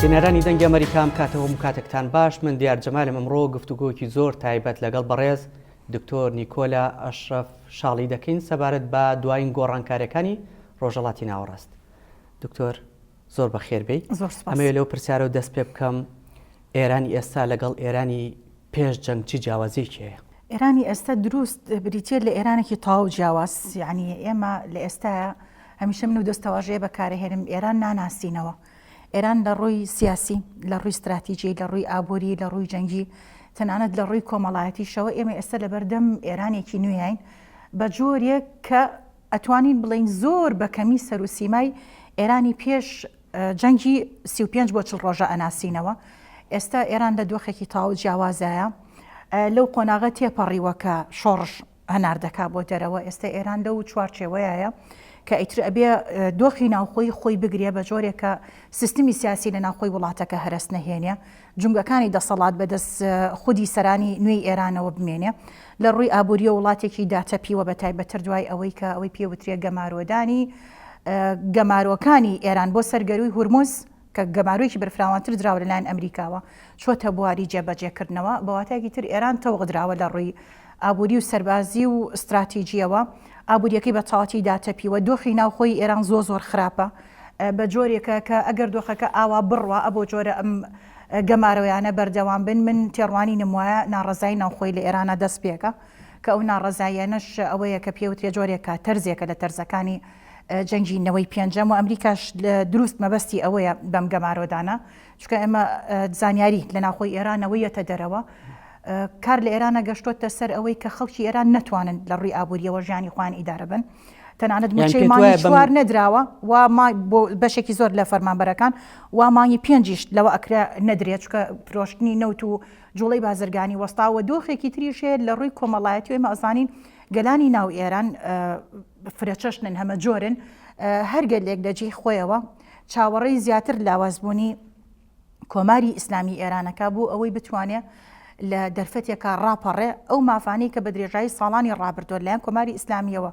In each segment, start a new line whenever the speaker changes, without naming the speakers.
بینەرانی دەنگی ئەمریکام کاتەوە مکاتەکتان باش من دیار جەمالم ئەمڕۆ گفتوگۆکی زۆر تایبەت لەگەڵ بەڕێز دکتۆر نیکۆلا ئەشرف شاڵی دەکەین سەبارەت بە دوایین گۆڕانکارەکانی ڕۆژەڵاتی ناوەڕاست دکتۆر زۆر بەخێر بێی. زۆر سوپاس. ئەمەوێ لەو پرسیارەوە دەست پێ بکەم، ئێرانی ئێستا لەگەڵ ئێرانی پێش جەنگ چی جیاوازیەکی هەیە؟ ئێرانی ئێستا
دروست بریتیە لە ئێرانێکی تەواو جیاواز، یەعنی ئێمە لە ئێستایا هەمیشە من و دەستەواژەیە بەکارەهێنم ئێران ناناسینەوە. ئێران لە ڕووی سیاسی، لە ڕووی ستراتیجی، لە ڕووی ئابووری، لە ڕووی جەنگی، تەنانەت لە ڕووی کۆمەڵایەتیشەوە ئێمە ئێستا لەبەردەم ئێرانێکی نوێین بە جۆرێک کە ئەتوانین بڵێین زۆر بە کەمی سەر و سیمای ئێرانی پێش جەنگی سی و پێنج بۆ چڵ ڕۆژە ئەناسینەوە. ئێستا ئێران لە دۆخێکی تەواو جیاوازایە. لەو قۆناغە تێپەڕیوە کە شۆڕش هەنار دەکا بۆ دەرەوە. ئێستا ئێران لەو چوارچێوەیەیە کە ئیتر ئەبێ دۆخی ناوخۆی خۆی بگرێ بە جۆرێک کە سیستمی سیاسی لە ناوخۆی وڵاتەکە هەرەس نەهێنێ. جومگەکانی دەسەڵات بە دەست خودی سەرانی نوێی ئێرانەوە بمێنێ. لە ڕووی ئابوورییەوە وڵاتێکی داتەپیوە بە تایبەتتر دوای ئەوەی کە ئەوەی پێ وترێ گەمارۆدانی گەمارۆکانی ئێران بۆ سەر گەرووی هورمز کە گەمارۆیەکی بەرفراوانتر دراوە لە لایەن ئەمریکاوە چۆتە بواری جێبەجێ کردنەوە. بە واتایەکی تر ئێران تەوق دراوە لە ڕووی ئابووری و سەربازی و ستراتیجییەوە. ئابوورییەکەی بە تەواوەتی داتەپیوە. دۆخی ناوخۆی ئێران زۆر زۆر خراپە. بە جۆرێکە کە ئەگەر دۆخەکە ئاوا بڕوا ئەبۆ جۆرە ئەم گەمارۆیانە بەردەوام بن من تێڕوانینم وایە ناڕەزایی ناوخۆی لە ئێرانە دەست پێکە کە ئەو ناڕەزاییانەش ئەوەیە کە پێوترێ جۆرێکە تەرزێکە لە تەرزەکانی جەنگی نەوەی پێنجەم و ئەمریکاش دروست مەبەستی ئەوەیە بەم گەمارۆدانە چونکە ئێمە زانیاری لە ناوخۆی ئێرانەوە یەتە دەرەوە کار لە ئێرانە گەشتۆتە سەر ئەوەی کە خەڵکی ئێران نتوانن لە ڕووی ئابووریەوە ژیانی خوان ئیدارە بن تەنانەت موچەی مانگی چوار نەدراوە و بۆ بەشێکی زۆر لە فەرمانبەرەکان و مانگی پێنجیشت لەوە ئەکرا نەدرێت چکە پرۆشتنی نەوت و جوڵی بازرگانی وەستاوە دۆخێکی تریشێت لە ڕووی کۆمەڵایەتی ئێمە ئەزانین گەلانی ناو ئێران فرەچەشنن هەمە جۆرن هەرگەلێک لە جێی خۆیەوە چاوەڕێی زیاتر لاوازبوونی کۆماری ئیسلامی ئێرانەکە بۆ ئەوەی بتوانێ لە دەرفەتێکە ڕاپەڕێ ئەو مافانەی کە بە درێژایی ساڵانی ڕابردوە لایەن کۆماری ئیسلامیەوە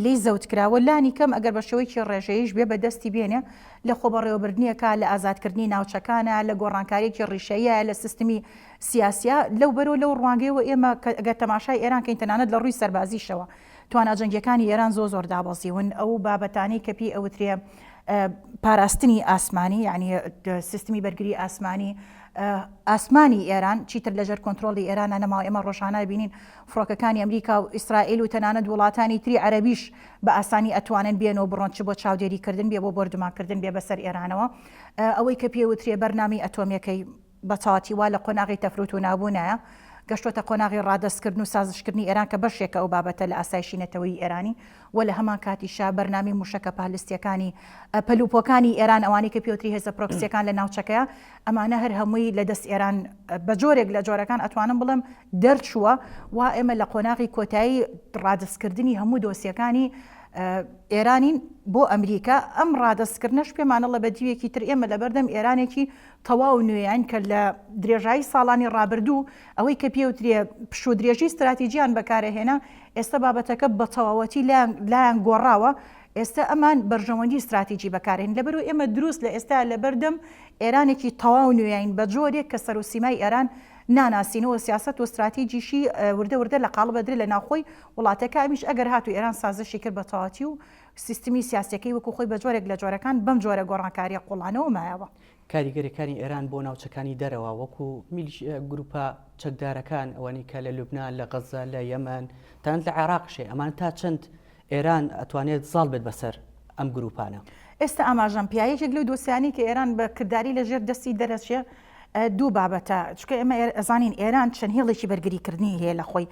لی زەوت کراوە لانی کەم ئەگەر بە شێوەیەکی ڕێژەیش بێ بە دەستی بێنێ لە خۆبەڕێوەبردنیەکە لە ئازادکردنی ناوچەکانە لە گۆڕانکارێکی ڕیشەیە لە سیستمی سیاسە لەو بەرەوە لەو ڕوانگەیەوە ئێمە گەر تەماشای ئێران کەین تەنانەت لە ڕووی سەربازیشەوە تواناجەنگیەکانی ئێران زۆ زۆر دابەزیون ئەو بابەتانی کە پێی ئەوترێ پاراستنی ئاسمانی یانی سیستمی بەرگری ئاسمانی ئاسمانی ئێران چیتر لەژەر کۆنتترۆلی ئێرانە نەماوە ئێمە ڕۆژانە بینین فڕۆکەکانی ئەمریکا و ئیسرائیل و تەنانەت وڵاتانی تری عەربیش بە ئاسانی ئەتوانن بێنەوە بڕۆن چ بۆ چاودێریکردن بێ بۆ بردومانکردن بێ بەسەر ئێرانەوە ئەوەی کە پێوترێ بەرنامی ئەتۆمیەکەی بە چاڵاکی وا لە قۆناغی تەفروت و نابوونایە گەشتۆتە قۆناغی ڕادەستکردن و سازشکردنی ئێران کە بەشێکە ئەو بابەتە لە ئاسایشی نەتەوەیی ئێرانی و لە هەمانکاتیشا بەرنامەی مووشەکە پالستییەکانی پەل و پۆکانی ئێران ئەوانەی کە پێوتری هێزە پرۆکسییەکان لە ناوچەکەیە ئەمانە هەر هەمووی لە دەست ئێران بە جۆرێک لە جۆرەکان ئەتوانم بڵێم دەرچووە وا ئێمە لە قۆناغی کۆتایی ڕادەستکردنی هەموو دۆسییەکانی ئێرانین بۆ ئەمریکا ئەم ڕادەستکردنەش پێمانەڵە بە دیوێکی تر ئێمە لەبەردەم ئێرانێکی تەواو نوێین کە لە درێژایی ساڵانی ڕابردوو ئەوەی کە پێوترێ پشوودرێژی ستراتیجیان بەکارەهێنا ئێستا بابەتەکە بە تەواوەتی لایان گۆڕاوە ئێستا ئەمان بەرژەوەندی ستراتیجی بەکارێن لەبەرو ئێمە دروست لە ئێستا لە بەردەم ئێرانێکی تەواو نوێین بە جۆرێک کە سەر و سیمای ئێران ناناسینەوە سیاست و ستراتیجیشی وردە وردە لە قاڵ بەدرێ لە ناوخۆی وڵاتەکە ئەمیش ئەگەر هاتو ئێران سازشی کرد بە تەواتی و سیستمی سیاسەکەی وەکو خۆی بە جۆرێک لە جۆرەکان بەم جۆرە گۆڕانکاریە قوڵانەوە مایەوە. کاریگەریەکانی
ئێران بۆ ناوچەکانی دەرەوە وەکو میلیش گروپە چەکدارەکان ئەوانی کە لە لوبنان لە غەزە لە یەمەن تاند لە عێراقشێ ئەمان تا چەند ئێران ئەتوانێت زاڵ بێت بەسەر ئەم گروپانە. ئێستا ئاماژەم
پێە یەکێک لەو دۆسیانەی کە ئێران بە کرداری لە ژێر دەستی دەرەچێ دوو بابەتە چکە ئێمە ئەزانین ئێران چەند هێڵێکی بەرگریکردنی هەیە لە خۆی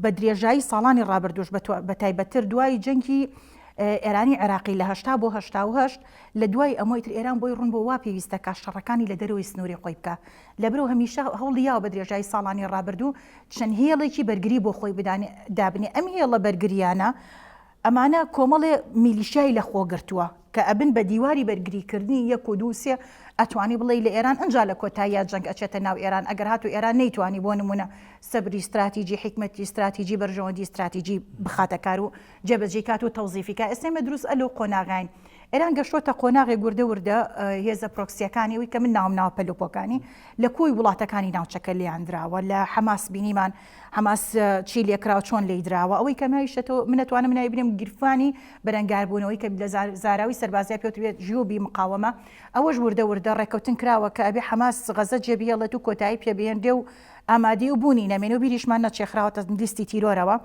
بە درێژایی ساڵانی ڕابردوش بە تایبەتر دوای جەنگی ئێرانی عێراقی لە هەشتا بۆ هەشتا و هەشت لە دوای ئەمە ئیتر ئێران بۆی ڕوون بوو وا پێویستە کە شەڕەکانی لە دەرەوەی سنووری خۆی بکا. لەبەرئەو هەمیشە هەوڵی یاوە بە درێژایی ساڵانی ڕابردوو چەند هێڵێکی بەرگری بۆ خۆی بدانێ، دابنێ. ئەم هێڵە بەرگرییانە ئەمانە کۆمەڵێ میلیشیای لە خۆ گرتووە کە ئەبن بە دیواری بەرگریکردنی یەک و دوو و سێ ئەتوانی بڵێی لە ئێران ئەنجا لە کۆتاییا جەنگ ئەچێتە ناو ئێران ئەگەر هاتوو ئێران نەیتوانی بۆ نموونە سەبری ستراتیجی، حیکمەتی ستراتیجی، بەرژەوەندی ستراتیجی بخاتە کار و جێبەجێی کات و تەوزیفی کا ئێستێمە دروست ئە لەو قۆناغاین. ئێران گەشتووەتە قۆناغێک وردە وردە هێزە پرۆکسییەکانی وی کە من ناوم ناوە پەلوپۆکانی لە کۆی وڵاتەکانی ناوچەکە لیان دراوە لە حەماس بینیمان حەماس چی لێکراوە چۆن لی دراوە ئەوەی کەمایشەوە منەتوانم نای بنێم گیرفانی بەرەنگاربوونەوەی کە لە زاراوی سەربازیا پێوترێت ژیوبی مقاومە ئەوەش وردە وردە ڕێککەوتن کراوە کە ئەبێ حەماس غەزە جێبیێڵێت و کۆتایی پێبێنرێ و ئامادی و بوونی نەمێن و بیریشمان نەچێخراوەتە لیستی تیرۆرەوە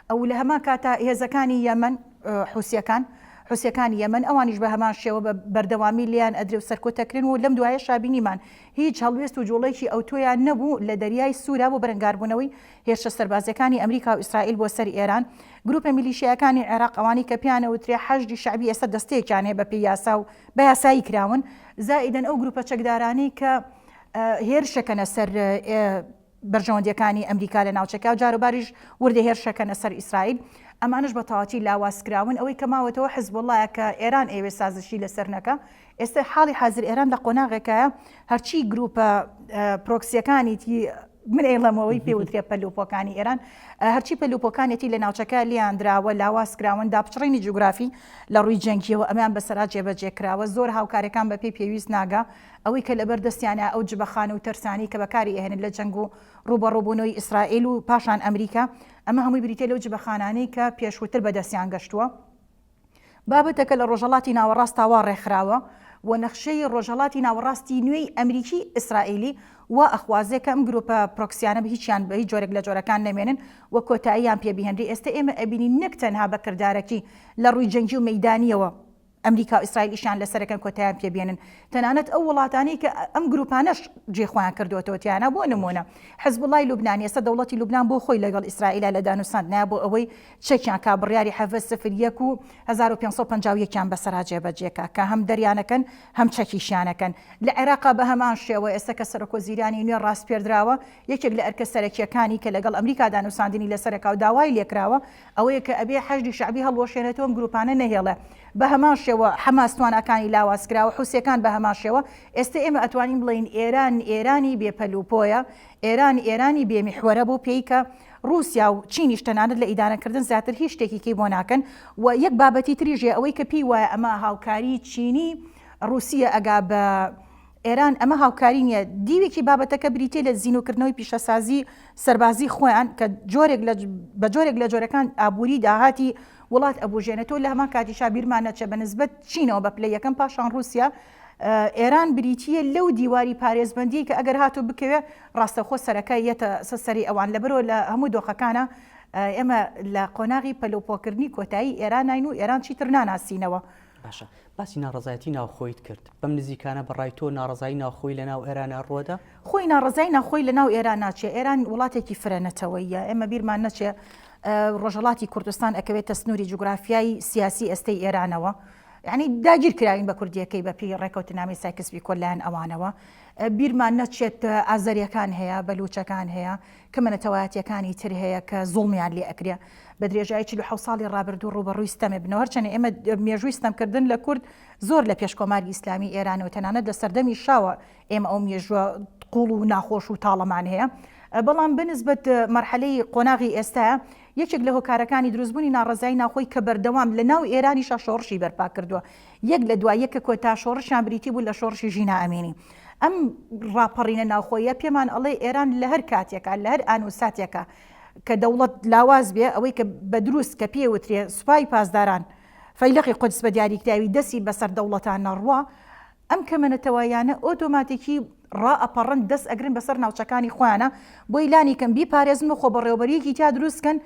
ئەو لە هەمان کاتە هێزەکانی یەمن حوسیەکان، حوسیەکانی یەمەن، ئەوانیش بە هەمان شێوە بە بەردەوامی لێیان ئەدرێ و سەرکوت ئەکرێن و لەم دوایەشا بینیمان هیچ هەڵوێست و جووڵەیەکی ئەوتۆیان نەبوو لە دەریای سوورا بۆ بەرەنگاربوونەوەی هێرشە سەربازییەکانی ئەمریکا و ئیسرائیل بۆ سەر ئێران. گرووپە میلیشیایەکانی عێراق، ئەوانەی کە پێیان ئەوترێ حەشدی شەعبی ئێستا دەستەیەکیان هەیە بەپێی یاسا و بە یاسایی کراون، زائیدەن ئەو گرووپە چەکدارانەی کە هێرش ئەکەنە سەر بەرژەوەندییەکانی ئەمریکا لە ناوچەکە، جاروباریش وردە هێرشەکەنە سەر ئیسرائیل، ئەمانەش بە تەواوەتی لاوازکراون، ئەوەی کە ماوەتەوە حزبوڵڵایە کە ئێران ئەیەوێت سازشی لەسەر نەکا، ئێستا حاڵی حازر ئێران لە قۆناغێکایە هەرچی گرووپە پرۆکسییەکانیی، من ئەیڵێمەوەی پێ وترێ پەلوپۆکانی ئێران، هەرچی پەلوپۆکانێتی لە ناوچەکە لێیان دراوە لاوازکراون، داپچڕینی جوگرافی لە ڕووی جەنگییەوە ئەمیان بەسەرا جێبەجێ کراوە، زۆر هاوکارییەکان بە پێی پێویست ناگا. ئەوەی کە لەبەر دەستیانە ئەو جبە خانوو ترسانەی کە بەکاری ئەهێنن لە جەنگ و ڕووبەڕووبوونەوەی ئیسرائیل و پاشان ئەمریکا ئەمە هەمووی بریتیە لەو جبە خانانەی کە پێشووتر بەدەستیان گەشتووە بابەتەکە لە ڕۆژەڵاتی ناوەڕاستا وا ڕێکخراوە و نەخشەی ڕۆژەڵاتی ناوەڕاستی نوێی ئەمریکی ئیسرائیلی وا ئەخوازێ کە ئەم گروپە پرۆکسیانە بە هیچیان بە هیچ جۆرێک لە جۆرەکان نەمێنن و کۆتاییان پێ بهێنری ئێستە ئێمە ئەبینین نەک تەنها بە کردارەکی لە ڕووی جەنگی و مەیدانیەوە ئەمریکا و ئیسرائیل ئیشیان لەسەرەکەن کۆتایان پێ بێنن تەنانەت ئەو وڵاتانەی کە ئەم گروپانەش جێ خۆیان کردوەوە تیانا بۆ نمونە حزبوڵای لوبنان ئێستا دەوڵەتی لوبنان بۆ خۆی لەگەڵ ئیسرائیلا لە دانوساندنە بۆ ئەوەی چەکیان کا بڕیاری حەڤە سفر یەک و هەزار و پێنج سەد و پەنجا و یەک یان بەسەرا جێبەجێکا کە هەم دەریانەکەن هەم چەکیشیانەکەن لە عێراقا بە هەمان شێوە ئێستا کە سەرۆک وەزیرانی نوێ ڕاسپێردراوە یەکێک لە ئەرکە سەرەکییەکانی کە لەگەڵ ئەمریکا دانوساندنی لەسەرەکا و داوای لێکراوە ئەوەیە کە ئەبێ حەشدی شەعبی هەڵوەشێنێتەوە ئەم گروپانە نەهێڵێ بە هەمان شێوە حەماس تواناکانی لاواز کراوە حوسیەکان بە هەمان شێوە ئێستە ئێمە ئەتوانین بڵێین ئێران ئێرانی بێ پەل و پۆیە ئێران ئێرانی بێ میحوەرە بۆ پێی کە ڕوسیا و چینیش تەنانەت لە ئیدانە کردن زیاتر هیچ شتێکی کەی بۆ ناکەن و یەک بابەتی تریش هەیە ئەوەی کە پێی وایە ئەمە هاوکاری چینی ڕوسیە ئەگا بە ئێران ئەمە هاوکاری نییە. دیوێکی بابەتەکە بریتییە لە زینوکردنەوەی پیشەسازی سەربازی خۆیان کە جۆرێک لە بە جۆرێک لە جۆرەکان ئابووری داهاتی وڵات ئەبوژێنێتەوە لە هەمان کاتیشا بیرمان نەچێ بە نسبەت چینەوە بە پلەی یەکەم پاشان رووسیا ئێران بریتییە لەو دیواری پارێزبندی کە ئەگەر هاتو بکەوێ ڕاستەخۆ سەرەکە یەتە سەری ئەوان لەبەرەوە لە هەموو دۆخەکانە ئێمە لە قۆناغی پەلوپۆکردنی کۆتایی ئێرانین و ئێران چیتر ناناسینەوە باشە
باسی ناڕەزایەتی ناوخۆیت کرد بەم نزیکانە بە ڕای تۆ ناڕەزایی ناوخۆی لە ناو ئێرانە ڕوەدا؟ خۆی ناڕەزایی
ناوخۆی لە ناو ئێران ناچێ ئێران وڵاتێکی فرە نەتەوەییە ئێمە بیرمان نەچێ ڕۆژەڵاتی کوردستان ئەکەوێتە سنووری جوگرافیای سیاسی ئێستەی ئێرانەوە یعنی داگیر کراوین بە کوردیەکەی بە پێی ڕێکەوتنامی سایکس بیکۆ لایەن ئەوانەوە بیرمان نەچێت ئازەریەکان هەیە بەلوچەکان هەیە کەمە نەتەوایەتیەکانی تر هەیە کە زوڵمیان لێ ئەکرێ بە درێژایی چل و حەوت ساڵی ڕابردوو ڕووبەڕووی ستەمێ بنەوە هەرچەنە ئێمە مێژووی ستەمکردن لە کورد زۆر لە پێش کۆماری ئیسلامی ئێرانەوە تەنانەت لە سەردەمی شاوە ئێمە ئەو مێژووە قوڵ و ناخۆش و تاڵەمان هەیە بەڵام بەنسبەت مەرحەلەی قۆناغی ئێستا یەکێک لە هۆکارەکانی دروستبوونی ناڕەزایی ناوخۆی کە بەردەوام لە ناو ئێرانیشا شۆڕشی بەرپا کردووە یەک لە دوای یەکە کۆتا شۆڕشیان بریتی بوو لە شۆڕشی ژینا ئەمینی. ئەم ڕاپەڕینە ناوخۆییە پێمان ئەڵێ ئێران لە هەر کاتێکا، لە هەر ئان و ساتێکا کە دەوڵەت لاواز بێ، ئەوەی کە بە دروست کە پێی وترێ سوپای پاسداران فەیلەقی قودس بە دیاریکراوی دەستی بە سەر دەوڵەتا نەڕوا، ئەم کەمە نەتەواییانە ئۆتۆماتیکی ڕائەپەڕن دەس ئەگرن بە سەر ناوچەکانی خۆیانا بۆی لانی کەم بیپارێزن و خۆبەڕێوەبەرییەکی تیا دروست کەن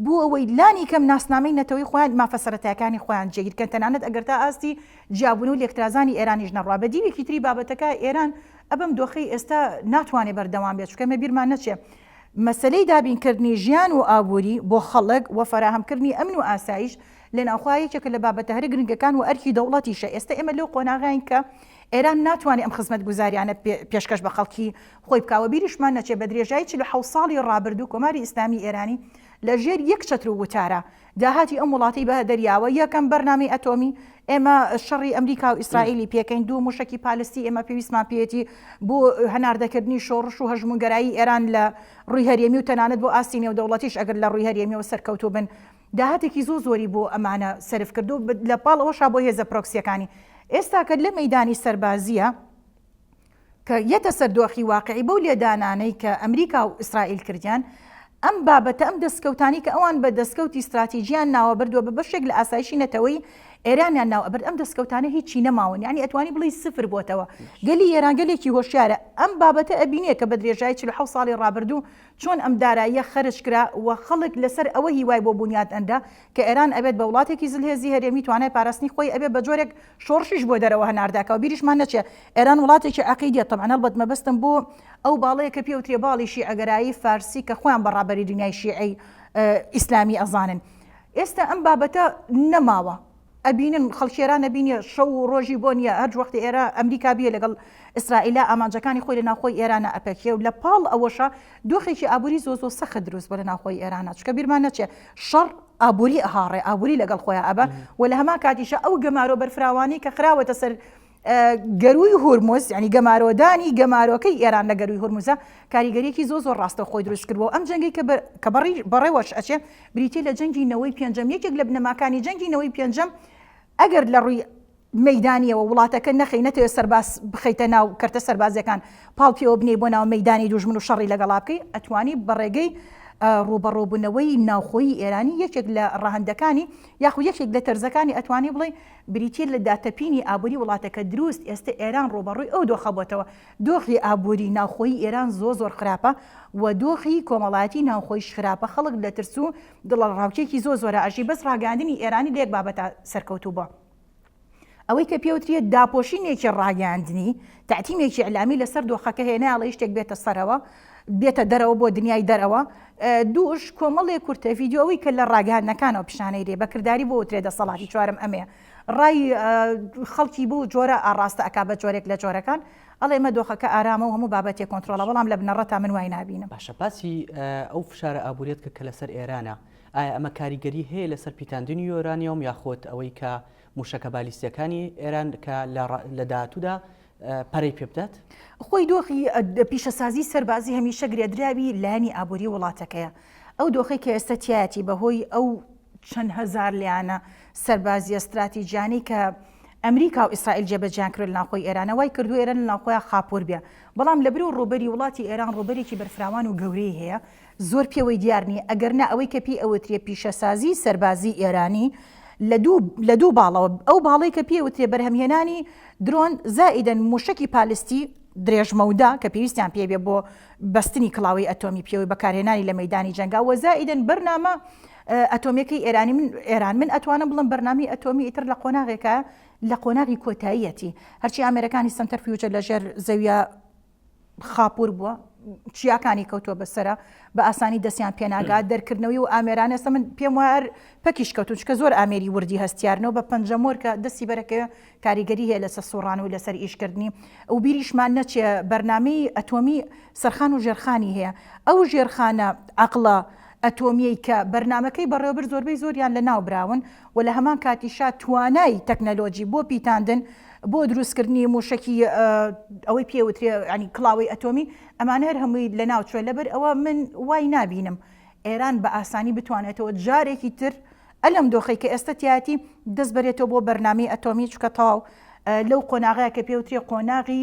بۆ ئەوەی لانی کەم ناسنامەی نەتەوەی خۆیان، مافە سەرەتایەکانی خۆیان جێگیر کەن، تەنانەت ئەگەر تا ئاستی جیابوون و لێکترازانی ئێرانیش نەڕوا. بە دیوێکی تری بابەتەکە، ئێران ئەبەم دۆخەی ئێستا ناتوانێ بەردەوام بێت، چونکە مە بیرمان نەچێ مەسەلەی دابین کردنی ژیان و ئابووری بۆ خەڵک و فەراهەم کردنی ئەمن و ئاسایش لە ناوخۆا یەکێکە لە بابەتە هەرە گرنگەکان و ئەرکی دەوڵەتیشە. ئێستا ئێمە لەو قۆناغەین کە ئێران ناتوانێ ئەم خزمەتگوزاریانە پێ پێشکەش بە خەڵکی خۆی بکا و بیریشمان نەچێ بە درێژایی چل و حەوت ساڵی ڕابردوو کۆماری ئیسلامی ئێرانی لە ژێر یەک چەتر و وتارە داهاتی ئەم وڵاتەی بە دەریاوە یەکەم بەرنامەی ئەتۆمی ئێمە شەڕی ئەمریکا و ئیسرائیلی پێکەین دوو موشەکی پالستی ئێمە پێویستمان پێیەتی بۆ هەناردەکردنی شۆڕش و هەژموونگەرایی ئێران لە ڕووی هەرێمی و تەنانەت بۆ ئاستی نێودەوڵەتیش ئەگەر لە ڕووی هەرێمیەوە سەرکەوتوو بن داهاتێکی زۆ زۆری بۆ ئەمانە سەرف کرد و لە پاڵ ئەوەشا بۆ هێزە پرۆکسیەکانی ئێستا کە لە مەیدانی سەربازیە کە یەتە سەر دۆخی واقعی بەو لێدانانەی کە ئەمریکا و ئیسرائیل کردیان، ئەم بابەتە ئەم دەسکەوتانەی کە ئەوان بە دەسکەوتی ستراتیجیان ناوە برد و بە بەشێک لە ئاسایشی نەتەوەی ئێرامیان ناو ئەبرد ئەم دەسکەوتانە هیچی نەماون یانی ئەتوانی بڵێی سفر بۆتەوە گەلی ئێران گەلێکی هۆشیارە ئەم بابەتە ئەبینێ کە بە درێژایی چل و حەوت ساڵی ڕابردوو چۆن ئەم داراییە خەرج کرا و خەڵک لەسەر ئەوە هیوای بۆ بونیات ئەنرا کە ئێران ئەبێت بە وڵاتێکی زلهێزی هەرێمی توانای پاراستنی خۆی ئەبێ بە جۆرێک شۆڕشیش بۆ دەرەوە هەناردەکا و بیریشمان نەچێ ئێران وڵاتێکی عەقیدیە تەبعەن هەڵبەت مەبەستم بۆ ئەو باڵەیە کە پێوترێ باڵی شیعەگەرایی فارسی کە خۆیان بە ڕابەری دنیای شیعەی ئیسلامی ئەزانن ئێستا ئەم بابەتە نەماوە ئەبینن خەڵکی ئێران نەبینی شەو و ڕۆژی بۆ نییە هەر وەختی ئێرە ئەمریکا بیە لەگەڵ ئیسرائیلا ئامانجەکانی خۆی لە ناوخۆی ئێرانە ئەپەکێ و لە پاڵ ئەوەشە دۆخێکی ئابووری زۆ زۆ سەخت دروست بۆ لە ناوخۆی ئێرانە چکە بیرمان نەچێ شەڕ ئابووری ئەهاڕێ، ئابووری لەگەڵ خۆیا ئەبا و لە هەمان کاتیشا ئەو گەمارۆ بەرفراوانەی کە خراوەتە سەر گەرووی هورمز، یانی گەمارۆدانی گەمارۆکەی ئێران لە گەرووی هورمزە، کاریگەرییەکی زۆر زۆر ڕاستەوخۆی دروست کرد و ئەم جەنگەی کە کە بەڕێوەش ئەچێ بریتییە لە جەنگی نەوەی پێنجەم، یەکێک لە بنەماکانی جەنگی نەوەی پێنجەم ئەگەر لە ڕووی مەیدانیەوە وڵاتەکە نەخەی نەتەوێ سەرباز بخەیتە ناو کەرتە سەربازیەکان پاڵ پێوە بنێی بۆ ناو مەیدانی دوژمن و شەڕی لەگەڵا بکەی ئەتوانی بە ڕێگەی ڕوبەڕۆبوونەوەی ناوخۆی ئێرانی یەکێک لە ڕەهندەکانی یاخو یەکێک لە تەرزەکانی ئەتوانی بڵێ بریتیە لە داتەپینی ئابووری وڵاتەکە دروست ئێستا ئێران ڕوبەڕووی ئەو دۆخەبتەوە دۆخی ئابووری ناوخۆی ئێران زۆ زۆر خراپە و دۆخی کۆمەڵایەتی ناوخۆیش خراپە خەڵک لە ترس و دڵە ڕاوکێکی زۆ زۆرە ئەژی بەس ڕاگەاندنی ئێرانی لێک بابەتە سەرکەوتوو بە ئەوەی کە پێوتریە داپۆشینێکی ڕاگەاندنی تاتیمێکی ئەلامی لەسەر دۆخەکە هێناڵە شتێک بێتە سەرەوە بێتە دەرەوە بۆ دنیای دەرەوە دووش کۆمەڵێ کورتە یددیوەوەی کە لە ڕاگەاندنەکانەوە پیشانەی دێ بەکردداری بۆ وترێ دەسەڵاتی چوارم ئەمێ ڕای خەڵکی بۆ جۆرە ئاڕاستە ئەک بە جۆرێک لە جۆرەکان ئەڵێ مە دۆخەکە ئارامە و هەموو بابەتی کۆنتترۆلە بەڵام لە بنەڕەت تا من وای نبینە باشە باسی
ئەو فشارە ئابووریت کە کە لەسەر ئێرانە ئایا ئەمە کاریگەری هەیە لەسەر پیتاندنی یۆرانیۆم یاخود ئەوەی کە موشەکە بالیستیەکانی ئێران کە لە داهاتوودا پەرەی پێ بدات؟ خۆی دۆخی
پیشەسازی سەربازی هەمیشە گرێدراوی لایەنی ئابووری وڵاتەکەیە. ئەو دۆخەی کە ئێستا تیایەتی بەهۆی ئەو چەند هەزار لایەنە سەربازیە ستراتیجیانەی کە ئەمریکا و ئیسرائیل جێبەجێیان کردوە لەناوخۆی ئێرانە وای کردوە ئێران لەناوخۆیان خاپوور بێ بەڵام لەبری و ڕووبەری وڵاتی ئێران ڕووبەرێکی بەرفراوان و گەورەی هەیە زۆر پێوەی دیار نییە، ئەگەر نا ئەوەی کە پێی ئەوترێ پیشەسازیی سەربازیی ئێرانی لە دوو لە دوو باڵەوە، ئەو باڵەی کە پێی ئەوترێ بەرهەمهێنانی درۆن زائیدەن مووشەکی پالیستی درێژمەودا کە پێویستیان پێی بێ بۆ بەستنی کڵاوەی ئەتۆمی پێوەی بەکارهێنانی لە مەیدانی جەنگا و زائیدەن بەرنامە ئەتۆمییەکەی ئێرانی من ئێران من ئەتوانم بڵێم بەرنامەی ئەتۆمی ئیتر لە قۆناغێکە لە قۆناغی کۆتاییەتی هەرچی ئامێرەکانی سەنتەرفیوجە لە ژێر زەوییە خاپوور بووە چیاکانی کەوتووە بەسەرا بە ئاسانی دەستیان پێناگات دەرکردنەوەی و ئامێرانە سە من پێم وار پەکیش کەوتون چکە زۆر ئامێری وردی هەستیارنەوە بە پەنجەمۆرکە دەستی بەرەکەوێ کاریگەری هەیە لەسە سوڕان و لەسەر ئیشکردنی ئەو بیریشمان نەچێ بەرنمەی ئەتۆمی سەرخان و ژێرخانی هەیە ئەو ژێرخانە عقلە ئەتۆمیەی کە بەرنمەکەی بەڕێوەبر زۆربەی زۆریان لە ناو براون و لە هەمان کاتیشا توانای تەکنەلۆجی بۆ پیتاندن بۆ دروستکردنی موشەکی ئەوەی پێ وترێ ینی کڵاوەی ئەتۆمی ئەمانە هەر هەمووی لە ناوچوە لەبەر ئەوە من وای نبینم ئێران بە ئاسانی بتوانێتەوە جارێکی تر ئەلم دۆخی کە ئێستا تیاتی دەست بەرێتەوە بۆ بەرنامی ئەتۆمی چکە تەواو لەو قۆناغەیە کە پێوترێ قۆناغی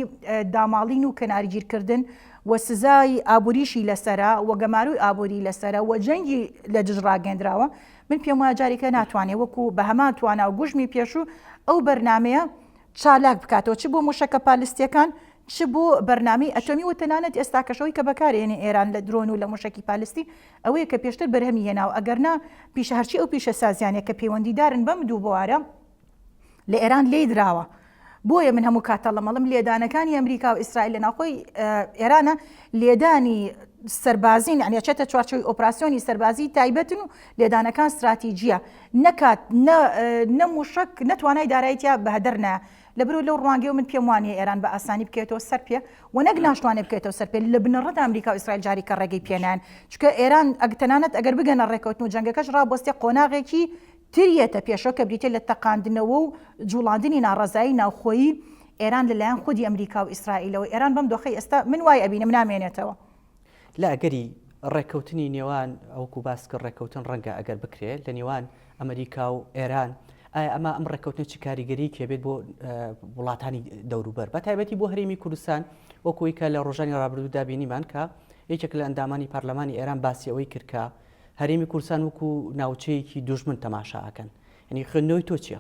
داماڵین و کەنارگیرکردن و سزای ئابووریشی لەسرە و گەماروی ئابووری لەسرە و جەنگی لە دژ ڕاگەندراوە و من پێم وایە جارێکە ناتوانێت وەکو بە هەمان توانا و گوژمی پێشوو ئەو بەرنامەیە چالاک بکاتەوە چ بۆ موشەکە پالیستیەکان چ بۆ بەرنامی ئەتۆمی و تەنانەت ئێستاکەشەوەی کە بەکارێنێ ئێران لە درۆن و لە موشەکی پالیستی ئەوەیە کە پێشتر بەرهەمی هێناوە ئەگەرنا پیشە هەرچی ئەو پیشە سازیانە کە پەیوەندیدارن بەم دوو بوارە لە ئێران لێی دراوە بۆیە من هەموو کاتە لەمەڵم لێدانەکانی ئەمریکا و ئیسرائیل لە ناوخۆی ئێرانە لێدانی سەربازین ئەنیچێتە چوارچەوەی ئۆپراسسیۆنی سەربازی تایبەتن و لێدانەکان استراتیجیە نەکات نەموشک نەتوانای دارایتیا بەهدرنا لە برو لەو ڕوانگەی من پێم وانە ئێران بە ئاسانی بکێتەوە سەر پێ و نەک ناشتوانێت بکێتەوە سەر پێ لە بنەڕەت ئەمریکا و ئیسرائیل جاری کە ڕێگەی پێنان چکە ئێران ئەگتەنانەت ئەگەر بگەنە ڕێکەوتن و جەنگەکەش ڕابستی قۆناغێکی تر یەتە پێشەوە کە بریتیە لە تەقاندنەوە و جوڵاندنی ناڕەزایی ناوخۆیی ئێران لە لایەن خودی ئەمریکا و ئیسرائیلەوە، ئێران بەم دۆخەی ئێستا من وای ئەبینم نامێنێتەوە. لە
ئەگەری ڕێککەوتنی نێوان ئەوەکو باست کرد ڕێککەوتن ڕەنگە ئەگەر بکرێ لە نێوان ئەمریکا و ئێران ئایا ئەمە ئەم ڕێککەوتنە چ کاریگەریەکی هەبێت بۆ وڵاتانی دەوروبەر بە تایبەتی بۆ هەرێمی کوردستان وەکوی کە لە ڕۆژانی ڕابردوودا بینیمان کە یەکێک لە ئەندامانی پەرلەمانی ئێران باسی ئەوەی کردکە هەرێمی کوردستان وەکو ناوچەیەکی دوژمن تەماشا ئەکەن یانی خوێندنەوەی تۆ چیە؟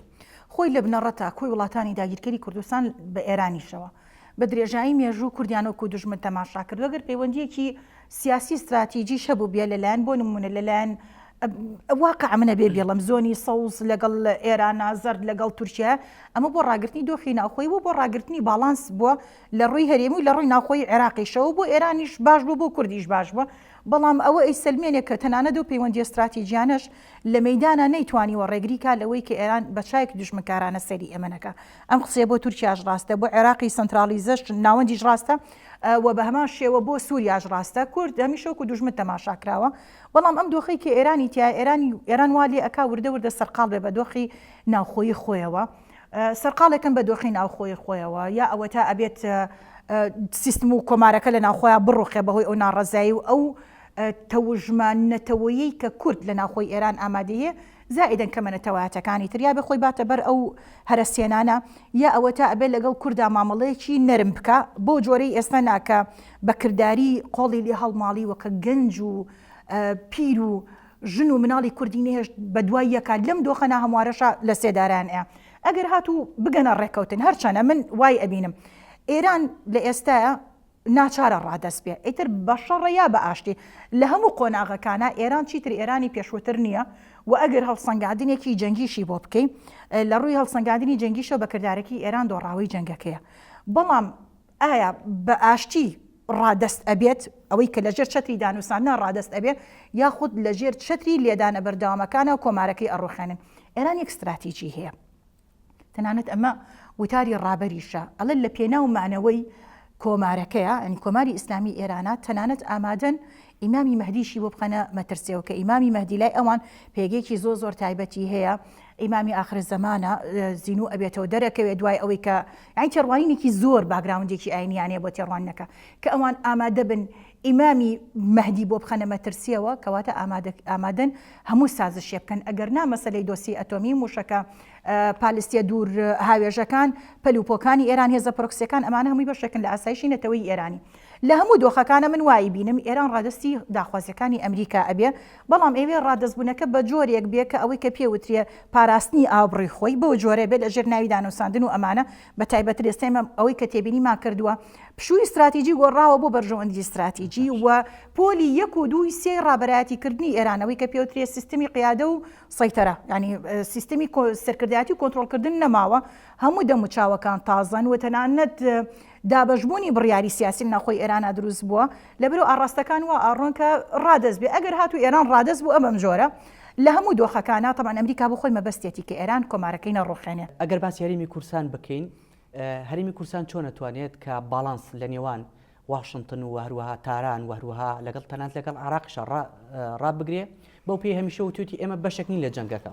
خۆی لە بنەڕەتە
کۆی وڵاتانی داگیرکەری کوردستان بە ئێرانیشەوە بە درێژایی مێژوو کوردیان وەکو دوژمن تەماشا کردوە گەر پەیوەندیەکی سیاسی ستراتیجیش هەبوبیە لە لایەن بۆ نمونە لە لایەن واقع منە بێ بیڵم زۆنی سەوز لەگەڵ ئێرانا زەرد لەگەڵ تورکیە ئەمە بۆ ڕاگرتنی دۆخی ناوخۆی بوە بۆ ڕاگرتنی باڵانس بوە لە ڕوی هەرێمی و لە ڕوی ناوخۆی عێراقیشەوە بۆ ئێرانیش باش بوە بۆ کوردیش باش بوە بەڵام ئەوە ئەیسەلمێنێ کە تەنانەت ئەو پەیوەندییە ستراتیجییانەش لە مەیدانا نەیتوانیوە ڕێگری کا لەوەی کە ئێران بە چاوێکی دوژمنکارانە سەیری ئێمە نەکا. ئەم قسەیە بۆ تورکیاش ڕاستە، بۆ عێراقی سەنترالیزەش، ناوەندیش ڕاستە و بە هەمان شێوە بۆ سووریاش ڕاستە. کورد هەمیشە وەکوو دوژمن تەماشا کراوە. بەڵام ئەم دۆخەی کە ئێرانی تیایە، ئێران ئێران وا لێ ئەکا وردە وردە سەرقاڵ بێ بە دۆخی ناوخۆیی خۆیەوە. سەرقاڵێکن بە دۆخی ناوخۆی خۆیەوە یا ئەوەتا ئەبێت سیستم و کۆمارەکە لە ناوخۆیان بڕوخێ بەهۆی ئەو ناڕەزایی و ئەو تەوژمە نەتەوەیی کە کورد لە ناوخۆی ئێران ئامادەیە زائیدەن کەمە نەتەوایەتەکانی تر یا بێ خۆی باتە بەر ئەو هەرە سێنانە یا ئەوە تا ئەبێت لەگەڵ کوردا مامەڵەیەکی نەرم بکە بۆ جۆرەی ئێستا ناکە بە کردداری قۆڵی لێ هەڵماڵی وەکە گەنج و پیر و ژن و مناڵی کوردی نەهێشت بەدوای یەکا لەم دۆخە ناهەموارەشا لەسێدارەیان ئەیا ئەگەر هاتوو بگەنە ڕێکەوتن هەرچەنە من وای ئەبینم ئێران لە ئێستایا ناچارە ڕادەست بێ ئیتر بەشەڕە یا بە ئاشتی لە هەموو قۆناغەکانە ئێران چیتر ئێرانی پێشووتر نییە و ئەگەر هەڵسەنگادنێکی جەنگیشی بۆ بکەین لە ڕووی هەڵسەنگادنی جەنگیشە بە کردارەکی ئێران دۆڕاوی جەنگەکەیە بەڵام ئایا بە ئاشتی ڕادەست ئەبێت ئەوەی کە لەژێر چەتری دانوساندنا ڕادەست ئەبێت یاخود لەژێر چەتری لێدانە بەردەوامەکانەوە کۆمارەکەی ئەڕوخێنن ئێران یەک ستراتیجی هەیە تەنانەت ئەمە وتاری ڕابەریشە ئەڵێ لە پێناو مانەوەی کۆمارەکەیە ئەنی کۆماری ئیسلامی ئێرانە تەنانەت ئامادەن ئیمامی مەهدیشی بۆ بخەنە مەترسیەوە کە ئیمامی مەهدی لای ئەوان پێگەیەکی زۆر زۆر تایبەتی هەیە ئیمامی ئاخر زەمانە زینو ئەبێتەوە دەرەکەوێت دوای ئەوەی کە ئەین تێڕوانینێکی زۆر باگراوندێکی ئاینیانەیە بۆ تێڕوانەکە کە ئەوان ئامادە بن ئیمامی مەهدی بۆ بخەنە مەترسیەوە کەواتە ئامادەن هەموو سازشێ بکەن ئەگەر نا مەسلەی دۆسی ئەتۆمی موشەکە پالیستیە دوور هاوێژەکان پەلوپۆکانی ئێران هێزە پرۆکسەکان ئەمانە هەمووی بەشێکن لە ئاسایشی نەتەوەی ئێرانی لە هەموو دۆخەکانا من وایی بینم ئێران ڕادەستی داخوازیەکانی ئەمریکا ئەبێ بەڵام ئەیەوێ ڕادەست بونەکە بە جۆرێک بێ کە ئەوەی کە پێ وترێ پاراستنی ئابڕوی خۆی بەو جۆرە بێ لە ژێر ناوی دانوساندن و ئەمانە بە تایبەتر ئێستا ئێمە ئەوەی کە تێبینیمان کردوە پشوی ستراتیجی گۆڕاوە بۆ بەرژەوەندی ستراتیجی و پۆلی یەک و دووی سێی ڕابەرایەتی کردنی ئێران ئەوەی کە پێ وترێ سیستمی قیادە و سەیتەرە یانی سیستمی سەرکردایەتی و کۆنترۆڵ کردن نەماوە هەموو دەموچاوەکان تازەن و تەنانەت دابەشبوونی بڕیاری سیاسی لە ناوخۆی ئێرانا دروست بووە، لەبەرئەو ئاڕاستەکان وا ئاڕۆن کە ڕادەست بێ، ئەگەر هاتوو ئێران ڕادەست بوو ئەبەم جۆرە لە هەموو دۆخەکانا، تەبعەن ئەمریکا بۆ خۆی مەبەستیەتی کە ئێران کۆمارەکەی نەڕوخێنێ. ئەگەر باسی هەرێمی
کورسان بکەین، هەرێمی کورسان چۆن ئەتوانێت کە باڵانس لە نێوان واشنتن و هەروەها تاران و هەروەها لەگەڵ تەنانەت لەگەڵ عێراقیشا ڕا ڕابگرێ، بەو پێی هەمیشە وتوێتی ئێمە بەشێک نین لە جەنگەکە.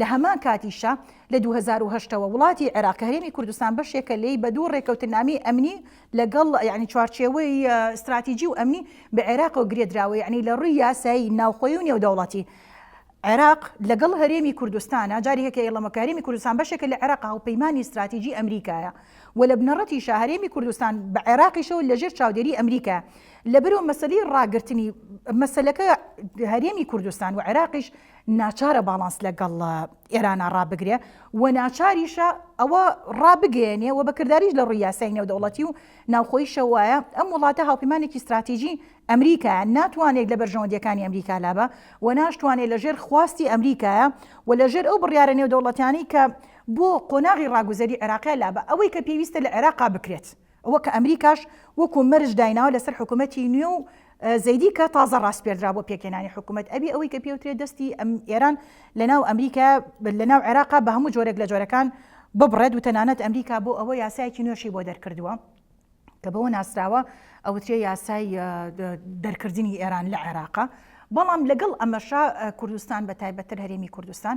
لە هەمان کاتیشا لە دوو هەزار و هەشت ەوە وڵاتی عێراق کە هەرێمی کوردستان بەشێکە لێی بە دوو ڕێکەوتنامەی ئەمنی لەگەڵ یانی چوارچێوەی ستراتیجی و ئەمنی بە عێراقەوە گرێدراوە یعنی لە ڕووی یاسایی ناوخۆی و نێودەوڵەتی عێراق لەگەڵ هەرێمی کوردستانە جاری هەکە ئێڵەمە کارێمی کوردستان بەشێکە لە عێراق هاوپەیمانانی ستراتیجی ئەمریکایە و لە بنەڕەتی شاهرێمی کوردستان بە عێراقیشەوە لەژێر چاودێری ئەمریکا لە بەرەو مەسلی ڕاگررتنی مەسلەکە هەرێمی کوردستان و عێراقیش ناچارە باڵانس لە گەڵ ئێرانا ڕابگرێ و ناچاریشە ئەوە ڕابگەیەنێ و بەکرداریش لە ڕووی یاسای نێودەوڵەتی و ناوخۆی شەوایە ئەم وڵاتە هاوپەیمانێکی ستراتیژی ئەمریکایە ناتوانێت لە بەرژەوەندیەکانی ئەمریکا لابە و ناشتوانێت لە ژێر خواستی ئەمریکایە و لە ژێر ئەو بڕیارە نێودەوڵەتیانی کە بۆ قۆناغی ڕاگوزەری عێراقی لابە ئەوەی کە پێویستە لە عێراقا بکرێت ئەوە کە ئەمریکاش وەکو مەرج دایناوە لەسەر حکومەتی نوێ و زەیدی کە تازە ڕاسپێردرا بۆ پێکهێنانی حکومەت ئەبێ ئەوەی کە پێوترێ دەستی ئێران لەناو ئەمریکا لەناو عێراقا بە هەموو جۆرێک لە جۆرەکان ببڕێت و تەنانەت ئەمریکا بۆ ئەوە یاسایەکی نوێشی بۆ دەرکردووە کە بەوە ناسراوە ئەوترێ یاسای دەرکردنی ئێران لە عێراقا بەڵام لەگەڵ ئەمەشا کوردستان بە تایبەتتر هەرێمی کوردستان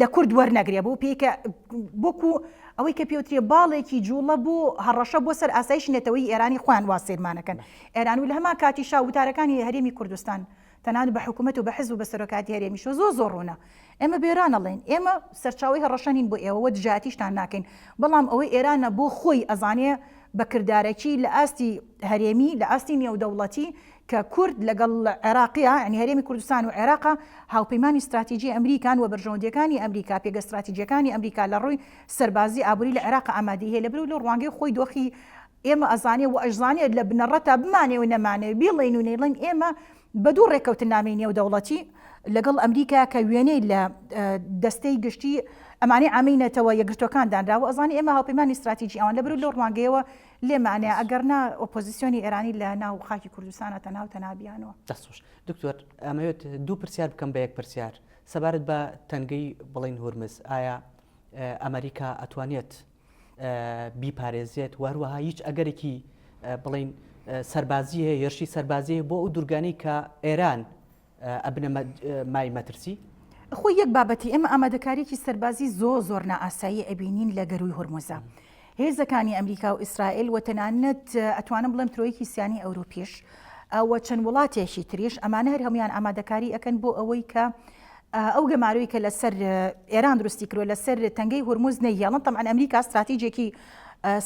لە کورد وەرنەگرێ بۆ پێی کە وەکو ئەوەی کە پێوترێ باڵێکی جوڵە بۆ هەڕەشە بۆ سەر ئاسایش نەتەوەی ئێرانی خۆیان وا سیرمانەکەن ئێران و لە هەمان کاتی شا وتارەکانی هەرێمی کوردستان تەنان بە حکوومەت و بە حزب و بە سەرۆکاتی هەرێمیشۆ زۆ زۆر ڕوونە ئێمە بێران ئەڵێن ئێمە سەرچاوی هەڕەشەنین بۆ ئێوەوە دژاتیشتان ناکەین بەڵام ئەوەی ئێرانە بۆ خۆی ئەزانێ بە کردارەکی لە ئاستی هەرێمی لە ئاستی نێودەوڵەتی کە کورد لەگەڵ عێراقیە، یانی هەرێمی کوردستان و عێراقە، هاوپەیمانی ستراتیجی ئەمریکان و بەرژەوەندییەکانی ئەمریکا، پێگە ستراتیجییەکانی ئەمریکا لە ڕووی سەربازی، ئابووری لە عێراق ئامادەیی هەیە، لەبەر و لە ڕوانگەی خۆی دۆخی ئێمە ئەزانێ و ئەشزانێ لە بنەڕەتا بمانێ و نەمانێ، بیڵێین و نەیڵێین ئێمە بە دوو ڕێککەوتننامەی نێودەوڵەتی لەگەڵ ئەمریکا کە وێنەی لە دەستەی گشتی ئەمانەی عامەی نەتەوە یەکگرتووەکان دانراوە ئەزانێ ئێمە هاوپەیمانی ستراتیجی ئەوان، لەبەر و لەو ڕوانگەیەوە لێ مانێ ئەگەر نا ئۆپۆزیسیۆنی ئێرانی لە ناو خاکی کوردستانە تەناو تەنها بیانوە. دەست خۆش دکتۆر
ئەمەوێت دوو پرسیار بکەم بە یەک پرسیار سەبارەت بە تەنگەی بڵین هورمز ئایا ئەمەریکا ئەتوانێت بیپارێزێت و هەروەها هیچ ئەگەرێکی بڵین سەربازی هەیە هێرشی سەربازی بۆ ئەو دوورگانەی کە ئێران ئەبنە مای مەترسی؟ خۆی یەک
بابەتی ئێمە ئامادەکاریی سەربازی زۆ زۆر نائاسایی ئەبینین لە گەرووی هورمزە هێزەکانی ئەمریکا و ئیسرائیل و تەنانەت ئەتوانم بڵێم ترۆیکی سیانی ئەوروپیش ئەوە چەند وڵاتێکی تریش ئەمانە هەر هەموان ئامادەکاری ئەەکەن بۆ ئەوەی کە ئەو گەماروی کە لەسەر ئێران درستی کرۆ لەسەر تەنگەی هورمز نەیەڵن تەمان ئەمریکا استراتیجێکی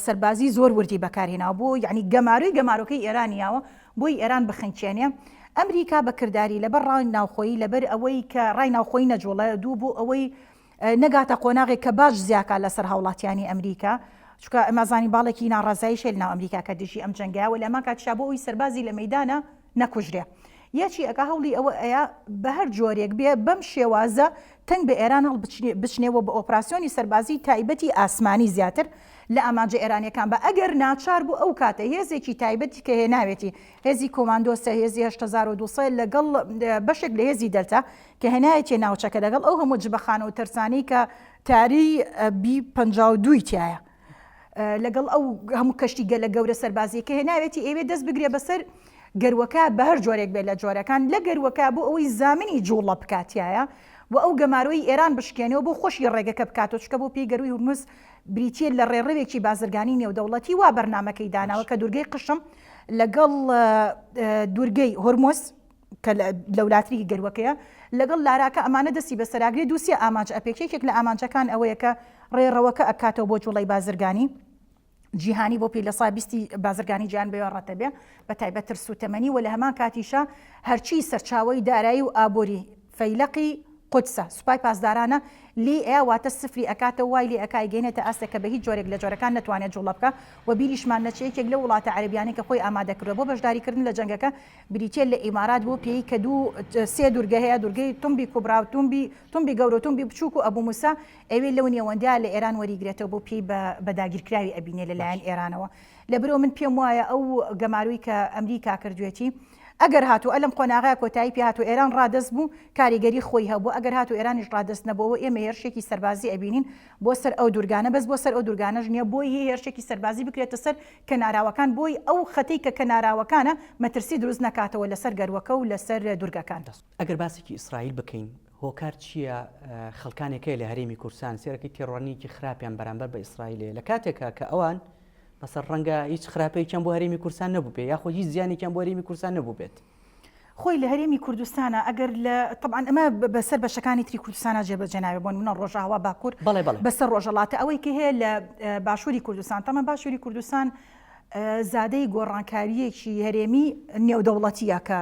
سەربازی زۆر وردی بەکارهێناوە بۆ یعنی گەماروی گەمارۆکەی ئێرانیاوە بۆی ئێران بخنکێنێ ئەمریکا بە کرداری لەبەر ڕای ناوخۆیی لەبەر ئەوەی کە ڕای ناوخۆیی نەجوڵە دوو بۆ ئەوەی نەگاتە قۆناغێک کە باج زیاکا لەسەر هاوڵاتیانی ئەمریکا چکە ئەمازانی باڵێکی ناڕزایی شێل ناو ئەمریکا کە دژی ئەم جەنگە وە لەمان کاتشا بۆ ئەوی سەربازی لە مەدانە نەکوژرێ یەچی ئەگا هەوڵی ئەوە ئەیا بە هەر جۆرێک بێ بەم شێوازە تەنگ بە ئێران هەڵبچنێ بچنێ و بە ئۆپراسیۆنی سەربازیی تایبەتی ئاسمانی زیاتر لە ئامانجە ئێرانییەکان با، ئەگەر ناچار بوو ئەو کاتە هێزێکی تایبەتی کە هێناوێتی، هێزی کۆماندۆسە، هێزی هەشت هەزار و دوو سەد لەگەڵ بەشێک لە هێزی دەلتا کە هێنایەتیە ناوچەکە لەگەڵ ئەو هەموو جبەخانە و تەرسانەی کە تاری بی پەنجا و دوو ی تیایە. لەگەڵ ئەو هەموو کەشتی گەلە گەورە سەربازیەکە هێناوێتی ئەوێ دەست بگرێ بەسەر گەروەکە بە هەر جۆرێک بێت لە جۆرەکان لە گەروەکە بۆ ئەوەی زامنی جوڵە بکاتایە و ئەو گەمارۆی ئێران بشکێنەوە بۆ خۆشی ڕێگەکە بکاتەوە چکە بۆ پێی گەروی هورمز بریتە لە ڕێڕەوێکی بازرگانی نێودەوڵەتی وا بەرنمەکەی داناوە کە دوورگەی قشم لەگەڵ دوورگەی هۆرمۆس کە لەولاتریکی گەروەکەیە لەگەڵ لاراکە ئەمانە دەستی بەسەراگرێ دووسێ ئامانج ئەپێکێ یەکێک لە ئامانجەکان ئەوەیە کە ڕێڕەوەکە ئەکاتەوە بۆ جوڵەی بازرگانی جیهانی بۆ پێی لە سا بیستی بازرگانی جیان بێ ڕەتە بێ بە تایبەت ترس و تەمەنی و لە هەمان کاتیشە هەرچی سەرچاوی دارایی و ئابووری فەیلەقی قودسە سوپای پاسدارانە لی ئێ واتە سفری ئەکاتە وای لێ ئەکای گەێنێتە ئاستێک کە بە هیچ جۆرێک لە جۆرەکان نەتوانێت جوڵە بکە و بیریشمان نەچێ یەکێک لە وڵاتە عەربیانەی کە خۆی ئامادەکردە بۆ بەشداریکردن لە جەنگەکە بریتیە لە ئیمارات بۆ پێی کە دوو سێ دورگە هەیە دورگەی تومبی کوبراو تومبی تومبی گەورەو تومبی بچوک و ئەبو موسا ئەوێ لەو نێوەندە لە ئێران وەریگرێتەوە بۆ پێی بە بە داگیرکراوی ئەبینێ لە لایەن ئێرانەوە لە برۆ من پێم وایە ئەو گەمارۆی کە ئەمریکا کردوێتی ئەگەر هاتو ئەلەم قۆناغە کۆتایی پێ هاتو ئێران ڕادەست بو کاریگەری خۆی هەبو ئەگەر هاتو ئێرانیش ڕادەست نەبۆوە ئێمە هێرشێکی سەربازی ئەبینین بۆ سەر ئەو دورگانە بەس بۆ سەر ئەو دورگانەش نیە بۆی هی هێرشێکی سەربازی بکرێتە سەر کەناراوەکان بۆی ئەو خەتەی کە کەناراوەکانە مەترسی
دروست
نەکاتەوە لەسەر گەروەکە
و
لەسەر دوورگەکان. ئەگەر باسێکی ئیسرائیل
بکەین
هۆکار
چییە؟ خەڵکانێک هەیە لە هەرێمی کوردستان سێرەکەی تێڕوانینێکی خراپیان بەرامبەر بە ئیسرائیل هەیە لە کاتێکا کە ئەوان مەسەڵەن ڕەنگە هیچ خراپەیەکیان بۆ هەرێمی کوردستان نەبووبێ یاخود هیچ زیانێکیان بۆ هەرێمی کوردستان نەبووبێت، خۆی لە
هەرێمی کوردستانە ئەگەر لە طبعا ئەمە بەسەر بەشەکانی تری کوردستانە جێبەجێ ناوێ بۆن منە ڕۆژاوا باکوور بەڵێ بەڵێ بەسەر ڕۆژەڵاتە ئەوەی کە هەیە لە باشووری کوردستان تەمە باشووری کوردستان زادەی گۆڕانکاریەکی هەرێمی نێودەوڵەتیە کە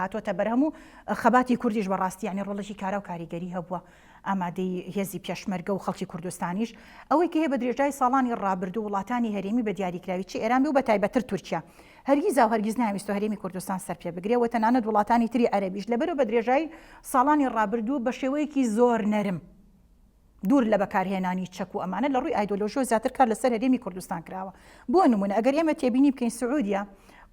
هاتوۆتە بەرهەم و خەباتی کوردیش بەڕاستیانی ڕۆڵێکی کارا و کاریگەری هەبووە ئامادەی هێزی پێشمەرگە و خەڵکی کوردستانیش ئەوەی کە هەیە بە درێژای ساڵانی ڕابردوو وڵاتانی هەرێمی بە دیاریکراوی چ ئێران بێ و بە تایبەتتر تورکیا هەرگیزا و هەرگیز نایویستوە هەرێمی کوردستان سەر پێ بگرێ و تەنانەت وڵاتانی تری عەرەبیش لەبەرئەوە بە درێژای ساڵانی ڕابردوو بە شێوەیەکی زۆر نەرم دوور لە بەکارهێنانی چەک و ئەمانە لە ڕووی ئایدۆلۆژیەوە زیاتر کار لەسەر هەرێمی کوردستان کراوە بۆ نموونە ئەگەر ئێمە تێبینی بکەین سعودیە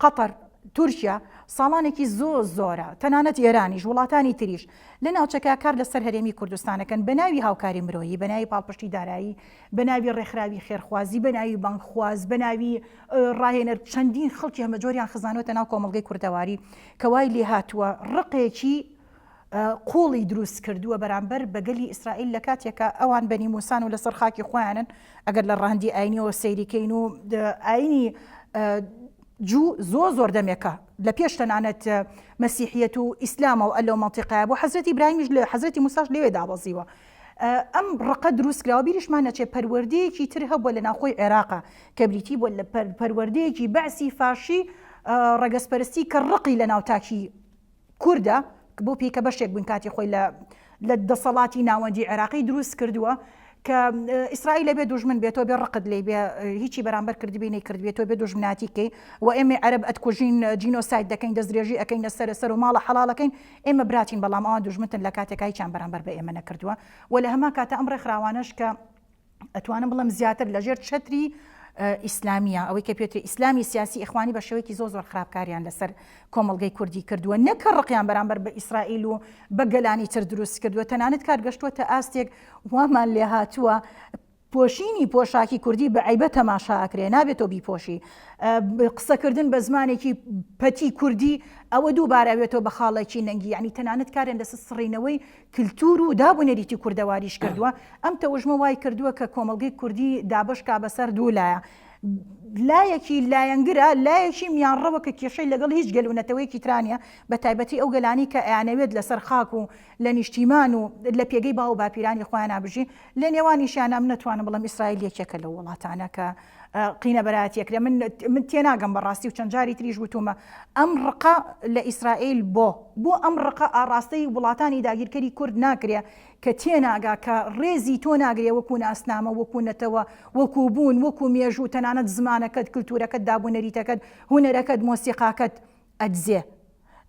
قەتەر تورکیا ساڵانێکی زۆر زۆرە تەنانەت ئێرانیش وڵاتانی تریش لە ناوچەکە کار لەسەر هەرێمی کوردستانەکەن بە ناوی هاوکاری مرۆیی، بە ناوی پاڵپشتی دارایی، بە ناوی ڕێکخراوی خێرخوازی، بە ناوی بانگخواز، بە ناوی ڕاهێنەر چەندین خەڵکی هەمەجۆریان خزانوەتە ناو کۆمەڵگەی کوردەواری کە وای لێهاتووە ڕقێکی قوڵی دروست کردووە بەرامبەر بە گەلی ئیسرائیل لە کاتێکا ئەوان بەنی موسان و لەسەر خاکی خۆیانن ئەگەر لە ڕەهەندی ئاینیەوە سەیریکەین و ئاینی جوو زۆر زۆر دەمێکە لە پێش تەنانەت مەسیحیەت و ئیسلامە و لەو مەنتیقایە بوو حەزرەتی ئیبراهیمیش لە حەزرەتی موساش لەوێ دابەزیوە ئەم ڕقە دروست کراوە بیریشمان نەچێ پەروەردەیەکی تر هەبووە لە ناوخۆی عێراقا کە بریتی بووە لە پەروەردەیەکی بەعسی فاشی ڕەگەزپەرستی کە ڕقی لە ناو تاکی کوردە کە بۆ پیکە بەشێک بووین کاتی خۆی لە لە دەسەڵاتی ناوەندی عێراقی دروست کردووە کە ئیسرائیل لەبێ دوژمن بێتۆ بێ ڕقت لی بێ هیچی بەرامبەر کردبی نەی کرد بێتۆ بێ دوژمناتی کەی و ئێمە عەرب ئەتکوژین جینۆساید دەکەین دەستدرێژی ئەەکەین لە سەرە سەر و ماڵە حەڵاڵەکەین ئێمە براتین بەڵام ئەوان دوژمنتن لە کاتێکایچیان بەرامبەر بە ئێمە نەکردووە و لە هەما کاتە ئەم ڕێکخراوانەش کە ئەتوانم بڵم زیاتر لەژێر چەتری ئیسلامیە ئەوەی کە پێێتی ئیسلامی سیاسی ئەخوانی بە شێوەیەکی زۆ زۆر خراپکاریان لەسەر کۆمەلگەی کوردی کردووە نەکە ڕقیان بەرامبەر بە ئیسرائیل و بە گەلانی تر دروست کردووە تەنانەت کار گەشتووە تا ئاستێک وامان لێ هاتووە پۆشینی پۆشاکی کوردی بە عیبە تەماشاکرێ نابێتەوە بیپۆشی قسەکردن بە زمانێکی پەتی کوردی ئەوە دووبارەوێتەوە بە خاڵێکی نەنگی ینی تەنانەت کارێن لەسەر سڕینەوەی کلتور و داب و نەریتی کوردەواریش کردووە، ئەم تەوژمە وای کردووە کە کۆمەڵگەی کوردی دابەش کا بە سەر دوو لایە، لایەکی لایەنگرە، لایەکی میانڕەوە کە کێشەی لەگەڵ هیچ گەل و نەتەوەیەکی ترا نییە، بە تایبەتی ئەو گەلانەی کە ئەیانەوێت لە سەر خاک و لە نیشتیمان و لە پێگەی باو و باپیرانی خۆیانا بژی، لە نێوانیشیان ئەم نەتوانم بڵێم ئیسرائیل یەکێکە لەو وڵاتانە کە قینە بەراتیەکرێ من من تێناگەم بەڕاستی و چەند جاری تریش وتومە ئەم ڕقە لە ئیسرائیل بۆ بۆ ئەم ڕقە ئاڕاستەی وڵاتانی داگیرکەری کورد ناکرێ کە تێناگا کە ڕێزی تۆ ناگرێ وەکو ناسنامە وەکو نەتەوە وەکو بوون وەکو مێژوو تەنانەت زمانەکەت کللتورەکەت دابوونەریتەکەت هوەرەکەت مۆسیقاکەت ئەدزێ.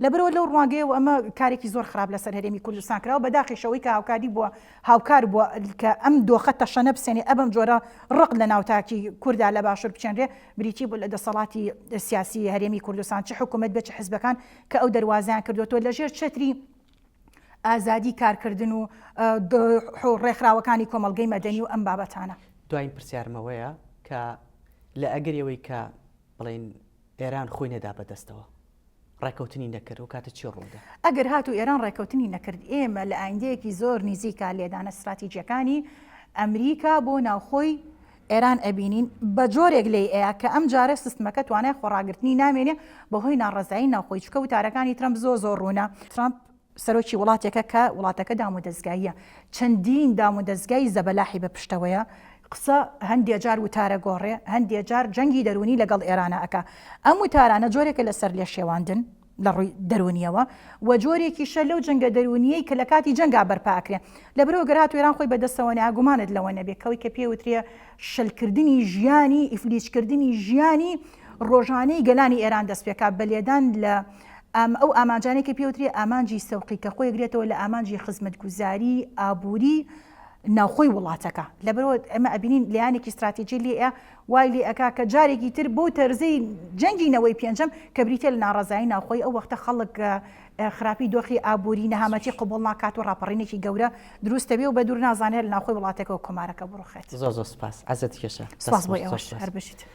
لەبەرئەوە لەو ڕوانگەیەوە ئەمە کارێکی زۆر خراپ لەسەر هەرێمی کوردستان کراوە بەداخیش ئەوەی کە هاوکاری بووە هاوکار بووە کە ئەم دۆخە تەشەنە بسێنێ ئەبەم جۆرە ڕق لە ناو تاکی کوردا لە باشور بچێنرێ بریتی بوو لە دەسەڵاتی سیاسی هەرێمی کوردستان چ حکومەت بێ چ حزبەکان کە ئەو دەروازەیان کردۆتەوە لە ژێر چەتری ئازادی کارکردن و ڕێکخراوەکانی کۆمەڵگەی مەدەنی و ئەم بابەتانە. دواین پرسیارمەوەیە
کە لە ئەگەری ئەوەی کە بڵێین ئێران خۆی نەدا بەدەستەوە ڕێکەوتنی نەکرد و کاتە چی ڕوودا ئەگەر هات و ئێران
ڕێکەوتنی نەکرد ئێمە لە ئایندەیەکی زۆر نیزیکا لێدانە استراتیجیەکانی ئەمریکا بۆ ناوخۆی ئێران ئەبینین بە جۆرێک لی ئەیە کە ئەم جارە سستمەکە توانای خۆڕاگررتنی نامێنێ بەهۆی ناڕزایی ناوخۆی چکە وتارەکانی ترمپ زۆ زۆر ڕوونە ترامپ سەرۆکی وڵاتێکە کە وڵاتەکە دامودەزگاییە، چەندین دامودەزگای زەبەلاحی بە پشتەوەیە، قسە هەندێ جار وتارە گۆڕێ، هەندێ جار جەنگی دەروونی لە گەڵ ئێرانە ئەکا. ئەم وتارانە جۆرێکە لە سەرلێشێواندن لە ڕووی دەروونییەوە و جۆرێکیشە لەو جەنگە دەروونییەی کە لە کاتی جەنگا بەرپا ئەکرێ. لەبەرئەوە گەر هاتوو ئێران خۆی بە دەستەوە نەیا، گومانت لەوە نەبێ کە ئەوەی کە پێ وترێ شلکردنی ژیانی، ئیفلیجکردنی ژیانی ڕۆژانەی گەلانی ئێران دەست پێ کا بە لێدان لە ئەم ئەو ئامانجانەی کە پێوترێ ئامانجی سەوقی کە خۆی گرێتەوە لە ئامانجی خزمەتگوزاری ئابووری ناوخۆی وڵاتەکە لەبەرەوە ئەمە ئەبینین لایەنێکی استراتیجی لێە وای لێ ئەک کە جارێکی تر بۆ تەرزی جەنگی نەوەی پێنجەم کە بریتە لە ناڕزایی ناوخۆی ئەو وەختە خەڵک خراپی دۆخی ئابووری نەهامەتی قوبڵ ناکات و ڕاپەڕینێکی گەورە دروستەوێ و بە دوور نازانێت ناخۆی وڵاتەکە و کۆمارەکە بڕوخێت زۆر زۆر سپاس عزت
کێشە سپاس بۆ ئێوەش هەر
بژیت.